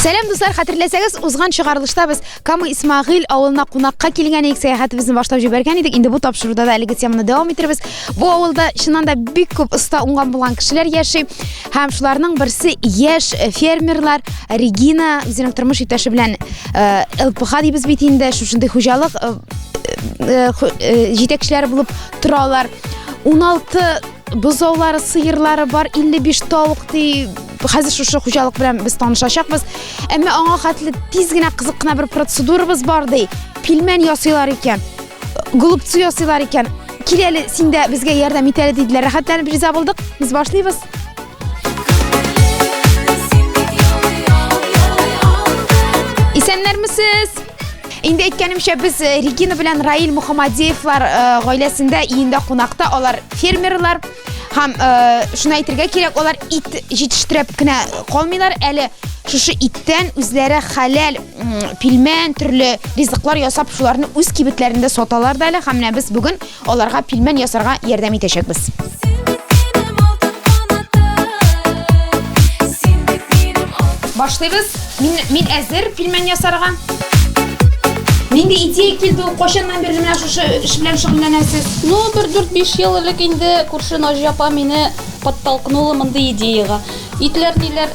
Сәлам дуслар, хәтерләсәгез, узган чыгарылышта без Камы Исмагыйл авылына кунакка килгән идек, сәяхәтебезне башлап җибәргән идек. Инде бу тапшыруда да әлеге теманы дәвам иттербез. Бу авылда чыннан да бик күп оста уңган булган кешеләр яши. Һәм шуларның берсе яшь э, фермерлар Регина үзенең тормыш иптәше белән э, ЛПХ дибез бит инде, шушындый хуҗалык э, э, э, ху- э, җитәкчеләре булып торалар. 16 бозаулары, сыерлары бар, 55 тавык ди. Хәзер шушы хуҗалык белән без танышачакбыз. Әмма аңа хәтле тиз генә кызык кына бер процедурабыз бар ди. Пилмән ясыйлар икән. Голубцы ясыйлар икән. Киләле, син дә безгә ярдәм итәле диделәр. Рәхәтләнеп риза булдык. Без башлыйбыз. Исәннәрмесез! Инде әйткәнемчә, без э, Регина белән Раил Мухаммадеевлар э, гаиләсендә иендә кунакта. Алар фермерлар. Һәм э, шуны әйтергә кирәк, алар ит җитештереп кенә калмыйлар, әле шушы иттән үзләре хәләл пилмән, төрле ризыклар ясап, шуларны үз кибетләрендә саталар да әле. Һәм менә без бүген Аларга пилмән ясарга ярдәм итәчәкбез. Башлыйбыз. Мин, мин әзер пилмән ясарга. Нинди идея килде ул? Кайчаннан бирле менә шушы эш белән шөгыльләнәсез? Ну, бер дүрт-биш ел элек инде күрше Наҗия апа мине подтолкнула мондый идеягә. Итләр ниләр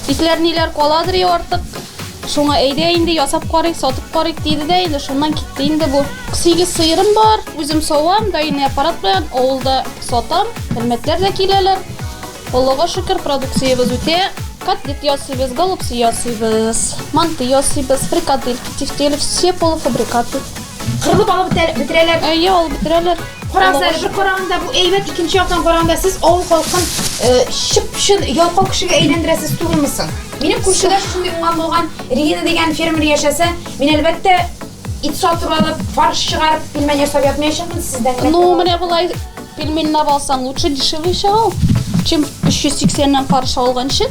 Итләр ниләр каладыр я артык. Шуңа әйдә инде ясап карыйк, сатып карыйк диде дә инде шуннан китте инде бу. Сигез сыерым бар, үзем савам, даими аппарат белән авылда сатам. Хөрмәтләр дә киләләр. Аллага шөкер, продукциябез үтә. Котлет ясыйбыз, голубцы ясыйбыз, манты ясыйбыз, фрикадельки, тефтели, все полуфабрикаты. Кырылып алып бетерәләр. Әйе, алып бетерәләр. Караңызда, бер караганда бу әйбәт, икенче яктан караганда сез авыл халкын чып-чын ялкау кешегә әйләндерәсез түгелме соң? Минем күршедә шундый уңган булган Регина дигән фермер яшәсә, мин әлбәттә ит сатып алып, фарш чыгарып, пельмень ясап ятмаячакмын сездән. Ну, менә булай пельмень алсаң, лучше дешевле чыга ул, чем 380 нан каршы алганчы.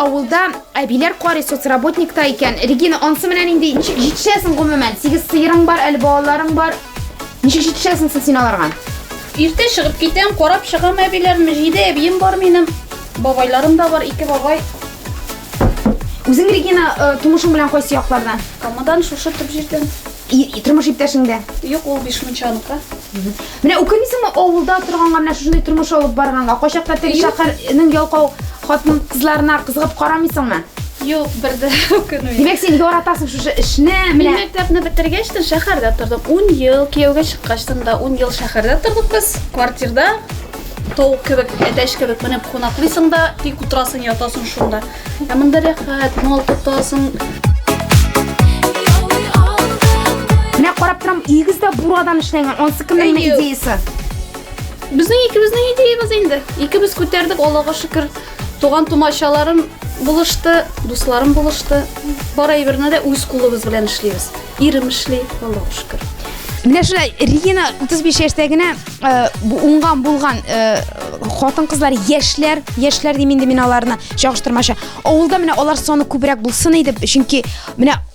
авылда әбиләр карый соцработникта икән. Регина, ансы менән инде ничек җитешәсең гомумән? Сигез сыерың бар, әле балаларың бар. Ничек җитешәсең син аларга? Иртә чыгып китәм, карап чыгам әбиләрне. Җиде әбием бар минем. Бабайларым да бар, ике бабай. Үзең Регина э, тумышың белән кайсы яклардан? Камадан шушы төп җирдән. И- Тормыш иптәшең дә. Юк, ул Бишмунчаныкы. Менә үкенмисеңме авылда торганга менә шушындый тормыш алып барганга? Кайчакта теге Юк. шәһәрнең ялкау хатын-кызларына кызыгып карамыйсыңмы? Юк, бер дә үкенмим. Димәк, син яратасың шушы эшне, менә. Мин мәктәпне бетергәч тә шәһәрдә тордым. 10 ел кияүгә чыккач да 10 ел шәһәрдә тордык без. Квартирда тавык кебек, әтәч кебек менеп кунаклыйсың да, тик утырасың, ятасың шунда. Ә монда рәхәт, мал тотасың. Менә карап торам, игез дә бурадан эшләнгән. Ансы кемнең идеясы? Безнең икебезнең идеябез инде. Икебез күтәрдек, Аллага шөкер. Туган тумачаларым булышты, дусларым булышты. Бар әйберне дә үз кулыбыз белән эшлибез. Ирем эшли, Аллаһу шөкер. Менә шулай Регина 35 яшьтә генә э, бу уңган булган э, хатын-кызлар, яшьләр, яшьләр дим инде мин аларны чагыштырмача. Авылда менә алар саны күбрәк булсын иде, чөнки менә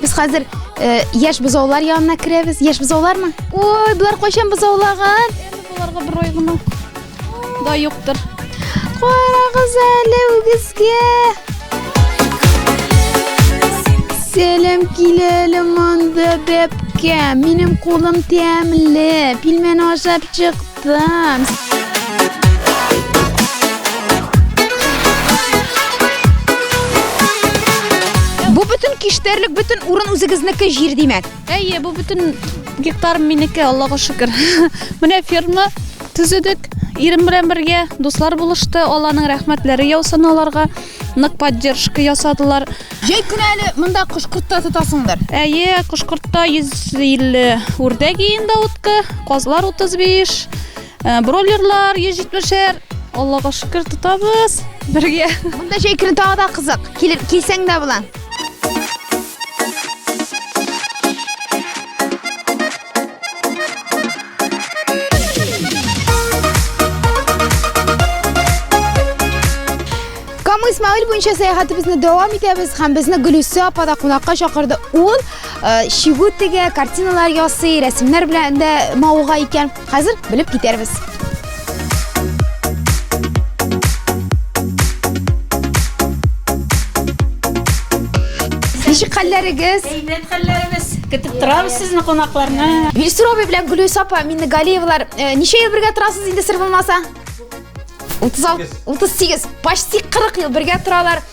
Без хәзер э, яшь бозаулар янына керәбез. Яшь бозаулармы? Ой, болар кайчан бозаулаган? Боларга бер ай гына да юктыр. Карагыз әле үгезгә. Сәлам киләлем анда бәпкә. Минем кулым тәмле. Пилмән ашап чык. Бу бөтен киштәрлек, бөтен урын үзегезнеке җир димәк. Әйе, бу бөтен гектар минеке, Аллага шөкер. Менә ферма төзедек. Ирем белән бергә дуслар булышты. Алланың рәхмәтләре яусын аларга. Нык поддержка ясадылар. Җәй көне әле монда кош-кортта тотасыңдыр. Әйе, кош-кортта 150 үрдәк иенда утка, казлар 35, э, бройлерлар 170-әр. Аллага шөкер, тотабыз. Бергә. Монда җәй көне тагы да кызык. Килер, килсәң дә була. Исмаил буенча сәяхәтебезне дәвам итәбез һәм безне Гөлүсә апа да кунакка чакырды. Ул э, шигү тегә, картиналар ясый, рәсемнәр белән дә мавыга икән. Хәзер белеп китәрбез. Ничек хәлләрегез? Әйбәт хәлләребез. Көтеп торабыз сезне кунакларны. Вильсур абый белән Гөлүс апа Миннегалиевлар э, ничә ел бергә торасыз инде сер булмаса? 36, 38, почти 40 ел бергә торалар.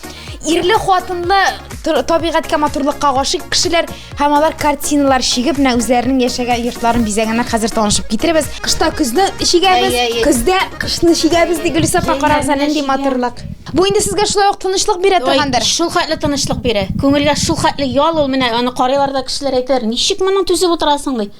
Ирле хатынлы табигатькә матурлыкка гашыйк кешеләр. Һәм алар картиналар чигеп, менә үзләренең яшәгән йортларын бизәгәннәр. Хәзер танышып китеребез. Кышта көзне чигәбез, Әйе, әйе. көздә кышны чигәбез ди Гөлүсә апа, карагыз әле нинди матурлык. Бу инде сезгә шулай ук тынычлык бирә торгандыр. Шул хәтле тынычлык бирә. Күңелгә шул хәтле ял ул менә аны карыйлар да кешеләр әйтәләр, ничек моның түзеп утырасың ди.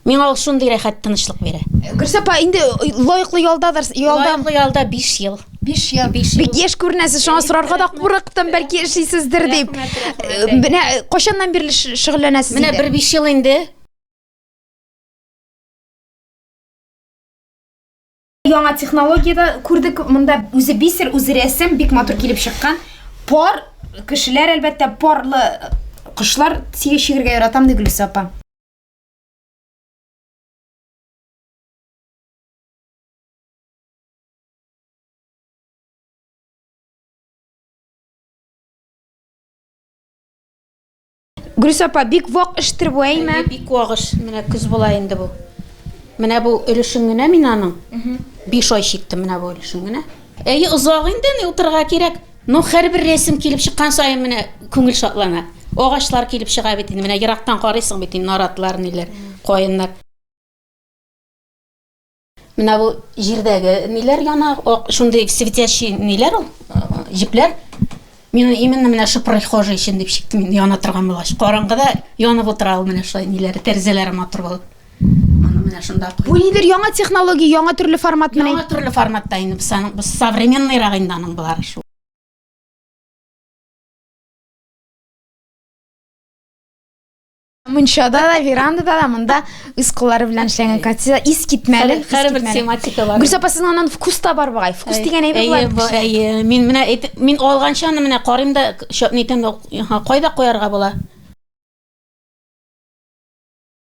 Миңа ул шундый рәхәт тынычлык бирә. Гөлсә апа инде лаеклы ялдадыр, ялда. Лаеклы ялда 5 ел. 5 ел. Бик яшь күренәсез, шуңа сорарга да курыктым, бәлки эшлисездер дип. Менә кайчаннан бирле шөгыльләнәсез инде? Менә бер 5 ел инде. Яңа технологиядә күрдек, монда үзе бисер, үзе рәсем, бик матур килеп чыккан. Пар кешеләр, әлбәттә, парлы кошлар сигә чигергә яратам, ди Гөлсә апа. Гөлүс апа, бик вак эштер бу, әйме? Әйе, бик вак эш. Менә көз була инде бу. Менә бу өлешен генә мин аның. Биш ай чиктем менә бу өлешен генә. Әйе, озак инде, ни утырырга кирәк. Ну, һәрбер рәсем килеп чыккан саен менә күңел шатлана. Агачлар килеп чыга бит инде, менә ерактан карыйсың бит инде, наратлар, ниләр, каеннар. Менә бу җирдәге ниләр яна, ак, шундый светящий ниләр ул, җепләр. Мин именно менә шу прихожий өчен дип чиктем, яна торган булгач. Караңгыда янып утыра ул менә шулай ниләре, тәрәзәләре матур булып. Аны менә шунда куй. Бу нидер яңа технология, яңа төрле формат менә. Яңа төрле форматта инде без аның без современныйрак инде аның болары шул. Мунчада да, верандада да, монда үз куллары белән эшләнгән картина ис китмәле. Хәрбер тематика бар. Гүрсә апасының аннан вкус та бар бугай. Вкус дигән әйбер бар. Әйе, бу әйе. Мин менә мин алганча аны менә карыйм да, шәп нитәм, кайда куярга була?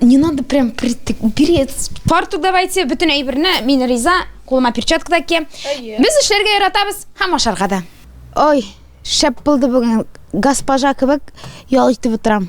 Не надо прям перец. Фартук давайте, бөтен әйберне, мин риза, кулыма перчатка да киям. Без эшләргә яратабыз һәм ашарга да. Ой, шәп булды бүген. Госпожа кебек ял итеп утырам.